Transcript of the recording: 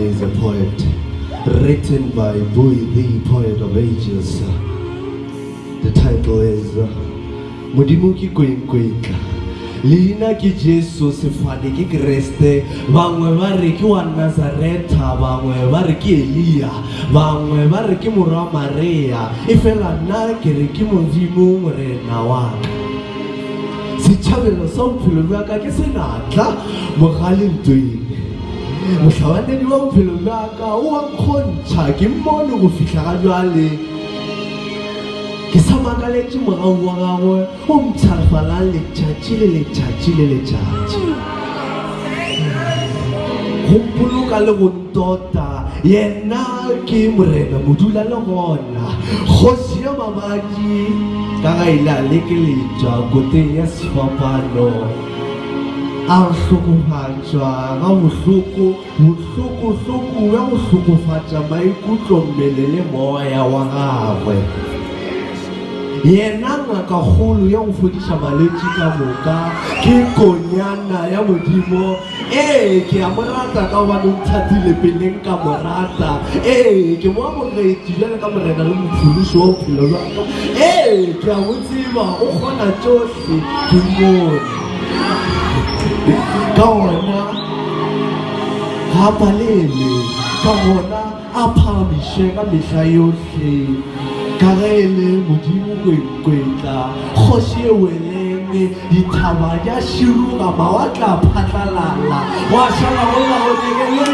is a poet written by Bui the poet of ages. The title is Modimo ke koinkoitla. Leina ke Jesu, sefane ke Kreste, bangwe ba re ke wa Nazareta, bangwe ba re ke Elia, bangwe ba re ke morwa Maria, efela nna ke re ke Modimo Morena wa ka. Setšhabelo sa bophelo bja ka ke senatla mogalentweng. Mohlabanedi wa bophelo bja ka o a nkgontšha ke mmone go fihla ga bjale. Ke sa makaletše morago wa gagwe o mpshafalang letšatši le letšatši le letšatši. Go mpoloka le go ntota, yena ke Morena Modula le gona, Kgoši ya mabadi, ka ga ile a lekeletšwa koteng ya sefapano. A re hlokofatša ga bohloko, bohloko-hloko bja go hlokofatša maikutlo, mmele le moya wa gagwe. Yena ngakakgolo ya go fodiša malwetši ka moka ke Konyana ya Modimo. Ee, ke a mo rata ka gobane o nthatile peleng ka mo rata. Ee, ke mo amogetše bjalo ka Morena le Mophološi wa bophelo bja ka. Ee, ke a mo tseba, o kgona tšohle. Sedumone. Ka gona ga palele, ka gona a phagamiše ka mehla yohle, ka ge e le Modimo kwenkwetla, kgoši e welenge, dithaba di a širuga, mawatle a phatlalala, gwa šala go la go